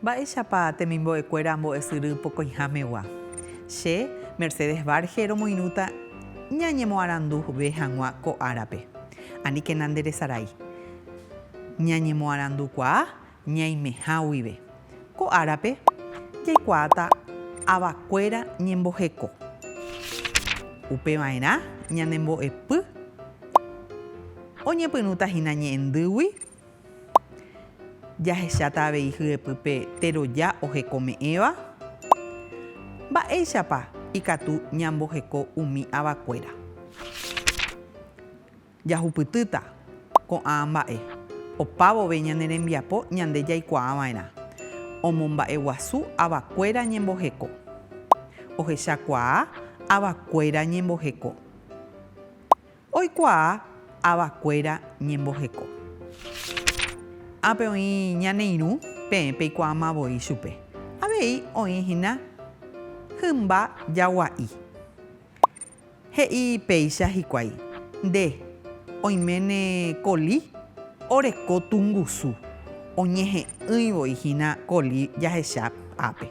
Mba'éichapa temimbo'ekuéra ambo'esyry pokõihámegua? Che, Mercedes Varge romoirũta ñañemoaranduve hag̃ua ko árape. Aníkena nderesarái. Ñañemoarandukuaa ñaimeha guive. Ko árape, jaikuaáta avakuéra ñemboheko. Upeva'erã ñane mbo'epy oñepyrũta hína ñe'ẽndýgui, jahecháta avei hyepy pe teroja ohekome'ẽva. Mba'éichapa ikatu ñamboheko umi avakuéra? Jahupytýta ko'ã mba'e opa vove ñane rembiapo ñande jaikuaa va'erã omomba'eguasu ava kuéra ñemboheko. Ohecha kuaa ava kuéra ñemboheko. Oikuaa ava kuéra ñemboheko. Ápe oĩ ñane irũ, peẽ peikuaama voi chupe. Avei oĩ hína hymba jagua'i. He'i péicha hikuái, Nde, oiméne Colí oreko tungusu. Oñehe'ỹi voi hína Colí jahecha ápe.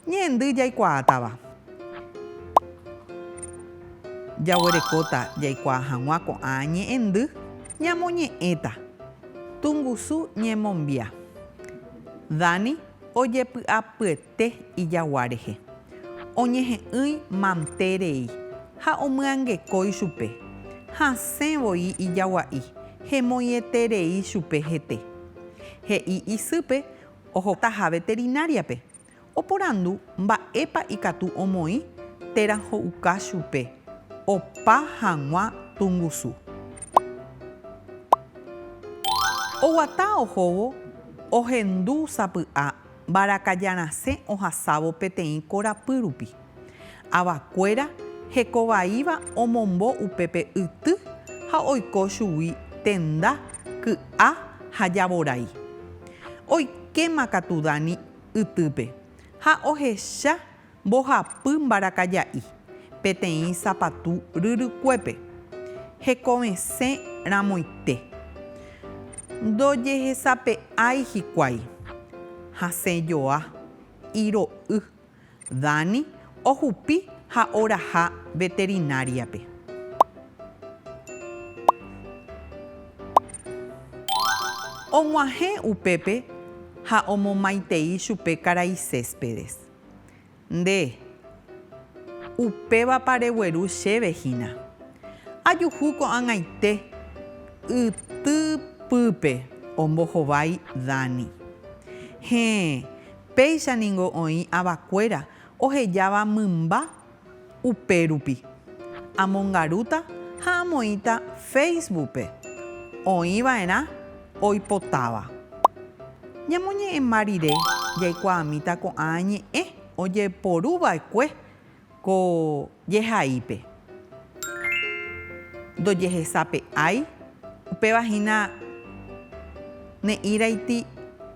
Ñe'ẽndy jaikuaátava. Jaguerekóta jaikuaa hag̃ua ko'ã ñe'ẽndy ñamoñe'ẽta. Tungusu ñemombia. Dani ojepy'apyet. Te ijagua rehe. Oñehe'ỹi mante rei, ha omyangekói chupe. Hasẽ voi ijagua'i, hemoĩeterei chupe hete. He'i isýpe ohotaha veterináriape, oporandu mba'épa ikatu omoĩ térã ho'uka chupe opa hag̃ua tungusu. Oguata ohóvo ohendu sapy'a mbarakajarasẽ ohasávo peteĩ korapy rupi. Avakuéra hekovaíva omombo upépe yty ha oiko chugui tenda, ky'a ha javorái. Oikéma katu Dani ytýpe ha ohecha Mbohapy mbarakaja'i peteĩ sapatu ryrykuépe, hekovesẽ ramoite. Ndojehesape'ái hikuái. Hasẽ joa, iro'y. Dani ohupi ha oraha veterináriape. Og̃uahẽ upépe ha omomaitei chupe karai Céspedes. Nde, upévapa regueru chéve hína. Ajuhu ko'ag̃aite ytypýpe, ombohovái Dani. Héẽ, péicha ningo oĩ avakuéra ohejáva mymba Upérupi, amongarúta ha amoĩta Facebook-pe oĩ va'erã oipotáva. Ñamoñe'ẽmba rire jaikuaamíta ko'ã ñe'ẽ ojeporu va'ekue ko jehaípe. Ndojehesape'ái, upéva hína ne'íraiti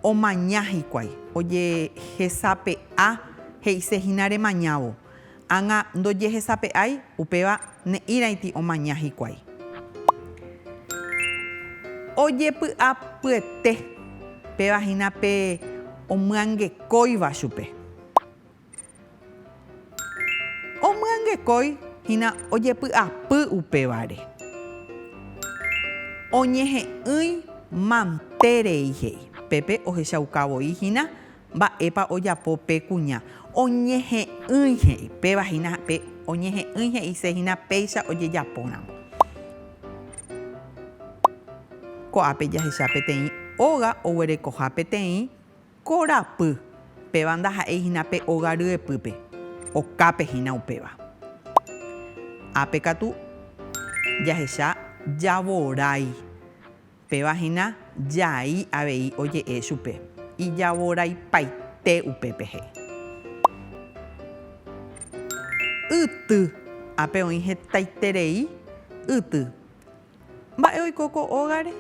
omaña hikuái ojehesape'a. He'ise hína remañávo. Ág̃a ndojehesape'ái, upéva ne'ĩraiti omaña hikuái. Ojepy'apyete. Péva hína pe omyangekóiva chupe. Omyangekói hína ojepy'apy upévare. Oñehe'ỹi mante rei he'i. Pépe ohechaukavoi hína Mba'épa ojapo pe kuña? Oñehe'ỹi he'i. Péva hína pe oñehe'ỹi he'ise hína péicha ojejapóramo. Ko'ápe jahecha peteĩ óga oguerekoha peteĩ korapy. Péva ndaha'éi hína pe óga ryepýpe. Okápe hína upéva. Ápe katu jahecha javorái. Péva hína jai avei oje'e chupe, ijavoraipaite upépe he'i. Yty. Ápe oĩ hetaiterei yty. Mba'e oiko ko ógare?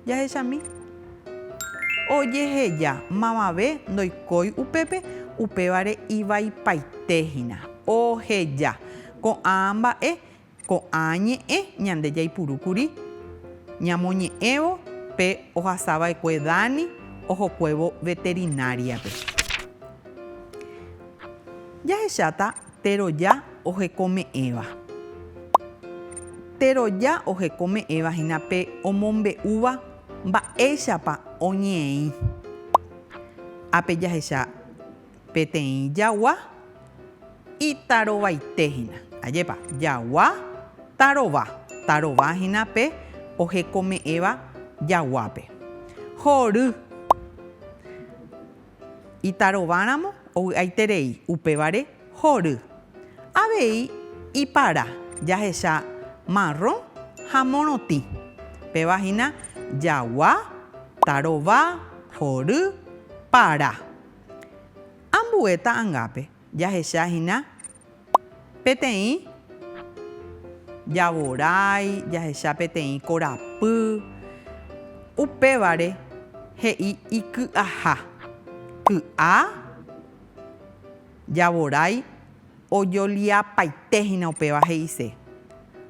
Jahechami. Ojeheja. Mavave ndoikói upépe, upévare ivaipaite hína. Oheja. Ko'ã mba'e Ko'ã ñe'ẽ ñande jaipuru kuri ñamoñe'ẽvo pe ohasava'ekue Dani ohokuévo veterináriape. Jahecháta teroja ohekome'ẽva. Teroja ohekome'ẽva hína pe omombe'úva mba'éichapa oñe'ẽĩ. Ápe jahecha. Peteĩ jagua itarovaite hína. Ajépa, jagua tarova. Tarova hína pe ohekome'ẽva jaguápe. Hory. Itarováramo ovy'aiterei, upévare hory. Avei ipara jahecha marrõ ha morotĩ. Péva hína jagua, tarova, hory, para. Ambue ta'angápe jahecha hína peteĩ javorái, jahecha peteĩ korapy, upévare he'i iky'aha, ky'a, javorái. Ojoliapaite hína upéva he'ise,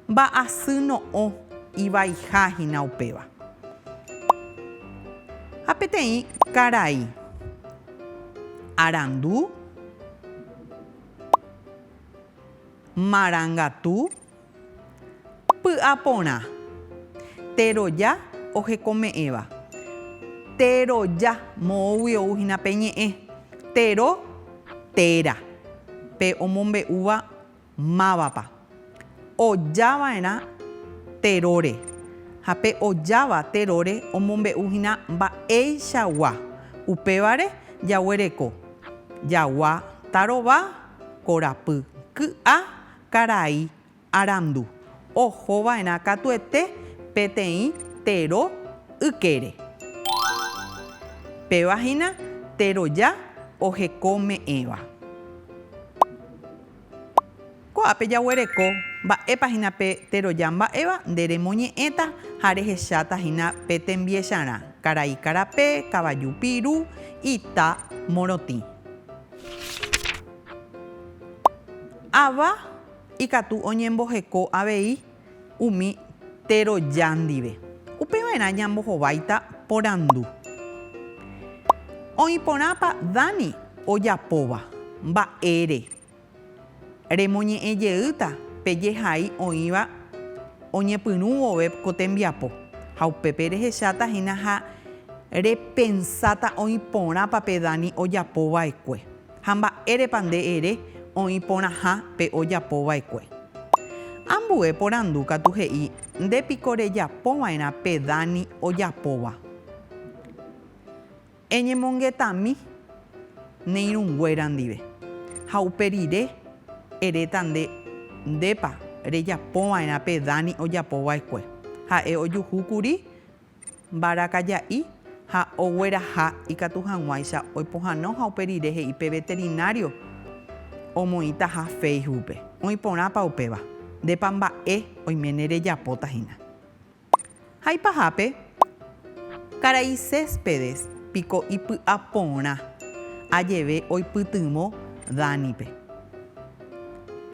mba'asy no'õ ivaiha hína upéva. Ha peteĩ karai arandu, marangatu. Py'a porã. Teroja ohekome'ẽva. Teroja, moõgui ou hína pe ñe'ẽ. Tero, téra. Pe omombe'úva mávapa. Oja va'erã teróre. Ha pe ojáva teróre omombe'u hína mba'eichagua. Upévare jaguereko. Jagua tarova, korapy. Ky'a. Karai arandu oho va'erã katuete peteĩ tero ykére. Péva hína teroja oheko me'ẽva. Ko'ápe jaguereko mba'épa hína pe teroja mba'éva nde remoñe'ẽta ha rehecháta hína pe tembiecharã, karai karape, kavaju piru, ita morotĩ. Ava ikatu oñemboheko avei umi teroja ndive. Upeva'erã ñambohováita porandu, Oĩ porãpa Dani ojapóva mba'ére? Remoñe'ẽ jeýta pe jehai oĩva oñepyrũ vove ko tembiapo, ha upépe rehecháta hína ha repensáta oĩ porãpa pe Dani ojapo va'ekue. ha mba'érepa nde ere oĩ porãha pe ojapo vaekue. Ambue porandu katu he'i nde piko rejapo vaerã pe Dani ojapóva. Eñemongetami ne irũnguéra ndive ha upe rire eréta nde ndépa rejapo vaerã pe Dani ojapo vaekue. Ha'e ojuhu kuri mbarakaja'i ha ogueraha ikatu hag̃uáicha oipohãno ha upe rire he'i pe veterinário omoĩtaha Facebookpe, oĩ porãpa upéva, ndépa mba'e oiméne rejapóta hína. Haipahápe, karai Céspedes piko ipy'a porã ajeve oipytyvõ Danipe.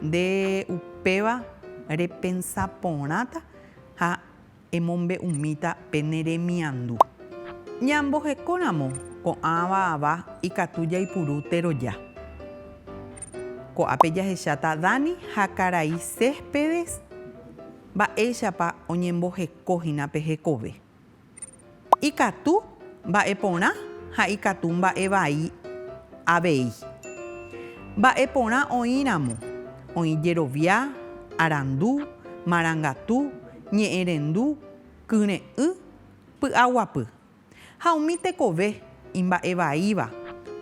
Nde upéva repensa porãta ha. Emombe'umíta pe ne remiandu. Ñamboheko ramo ko'ã va'ava ikatu jaipuru teroja. Ko'ápe jahecháta Dani ha karai Céspedes mba'éichapa oñemboheko hína pe hekove. Ikatu mba'e porã ha ikatu mba'e vai avei. Mba'e porã oĩ ramo, oĩ jerovia, arandu, marangatu, ñe'ẽrendu, kyre'ỹ, py'aguapy. Ha umi tekove imba'e vaíva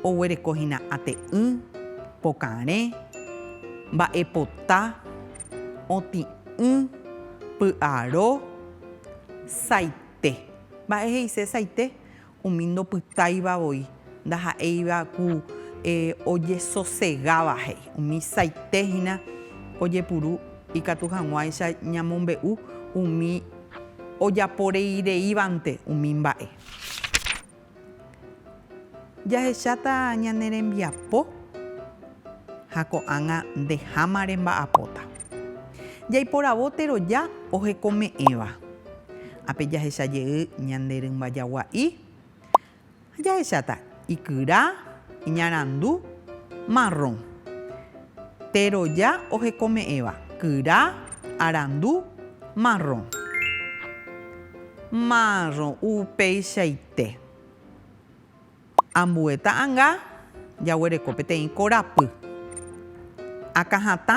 oguereko hína ate'ỹ, pokarẽ, mba'e pota, otĩ'ỹ, py'aro, saitĩ. Pe. Mba'e he'isesaite umi ndopytáiva voi, ndaha'éiva ku ojesosegáva jey. Umi saite hína ojepuru ikatu hag̃uáicha ñamombe'u umi ojaporeireívante umi mba'e. Jahecháta ñane rembiapo ha ko'ág̃a ndeháma remba'apóta. Jaiporavo teroja ohekome'ẽva. Ápe jahecha jey ñande rymba jagua'i ha jahecháta ikyra, iñarandu, marrõ. Teroja ohekome'ẽva, kyra, arandu, marrõ. Márrõ, upeichaite. Ambue ta'anga jaguereko peteĩ korapy. Akãhatã,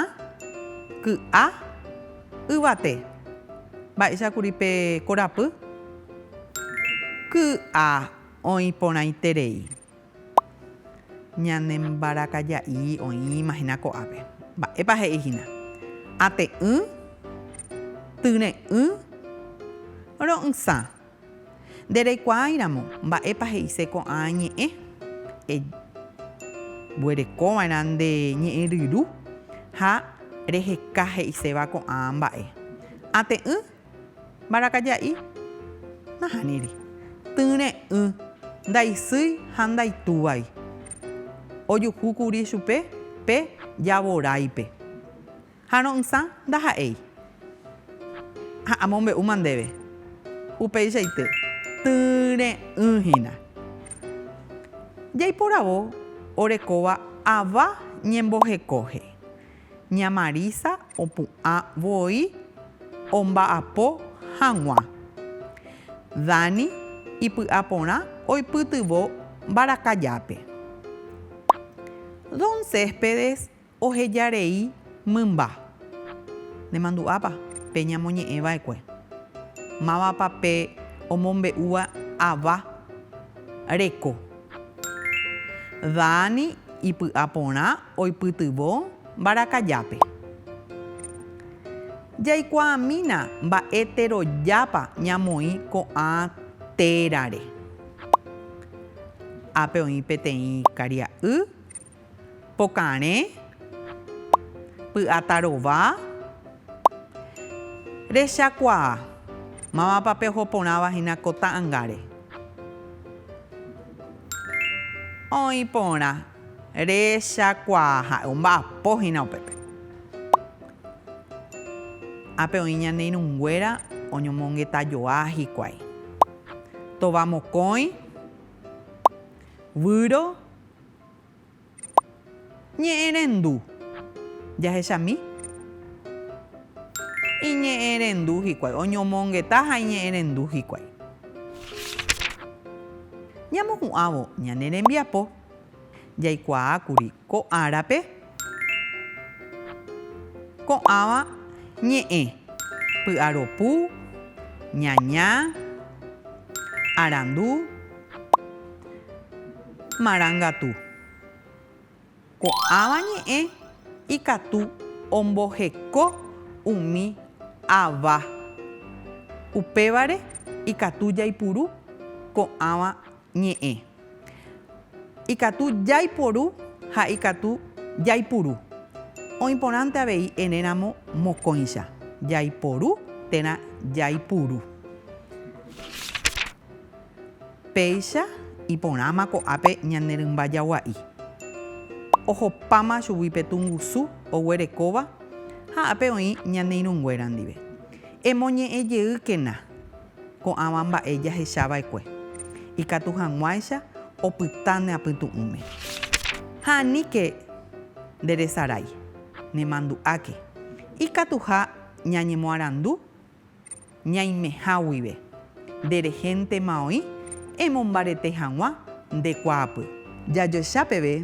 ky'a, yvate. Mba'éicha kuri pe korapy? Ky'a oĩ porãiterei. Ñane mbarakaja'i oĩma hína ko'ápe. Mba'épa he'i hína? Ate'ỹ, tyre'ỹ, ro'ysã. Nde reikuaáiramo mba'épa he'ise ko'ã ñe'ẽ, e guerekova'erã nde ñe'ẽ ryru ha reheka he'iséva ko'ã mba'e. Ate'ỹ. Mbarakaja'i, nahániri. Tyre'ỹ, ndaisýi ha ndaitúvai. Ojuhu kuri chupe pe javoráipe. Ha ro'ysã ndaha'éi. Ha amombe'úma ndéve. Upeichaite, tyre'ỹ hína. Jaiporavo orekóva ava ñembohekohe. Ña Marisa opu'ã voi omba'apo hag̃ua. Dani ipy'aporã oipytyvõ mbarakajápe. Don Céspedes oheja rei mymba. Nemandu'ápa pe ñamoñe'ẽ va'ekue? Mávapa pe omombe'úva ava reko? Dani ipy'a porã oipytyvõ mbarakajápe. Jaikuaamína mba'eterojápa ñamoĩ ko'ã térare. Ápe oĩ peteĩ karia'y. Pokarẽ, py'áta rova, rechakuaa. Mávapa pe oho porãva hína ko ta'angáre? Oĩ porã, rechakuaa ha'e omba'apo hína upépe. Ápe oĩ ñane irũnguéra oñomongetajoa hikuái. Tova mokõi, Víro, Ñe'ẽrendu. Jahechami. Iñe'ẽrendu hikuái. Oñomongeta ha iñe'ẽrendu hikuái. Ñamohu'ãvo ñane rembiapo. Jaikuaákuri ko árape. Ko'ãva ñe'ẽ, py'aropu, ñaña, arandu, marangatu. Ko'ãva ñe'ẽ ikatu omboheko umi ava. Upévare ikatu jaipuru ko'ãva ñe'ẽ. Ikatu jaiporu ha ikatu jaipuru. Oĩ porãnte avei erẽramo mokõicha, jaiporu térã jaipuru. Péicha iporãma ko'ápe ñane rymba jagua'i. Ohopáma chugui pe tungusu oguerekóva ha ápe oĩ ñane irũnguéra ndive. Emoñe'ẽjeýkena. ko'ãva mba'e jahechava'ekue, ikatu hag̃uáicha opyta ne apytu'ũme. Ha aníke nderesarái, nemandu'áke, ikatuha ñañemoarandu ñaimeha guive, nde rehéntema oĩ emombarete hag̃ua nde kuaapy. Jajoecha peve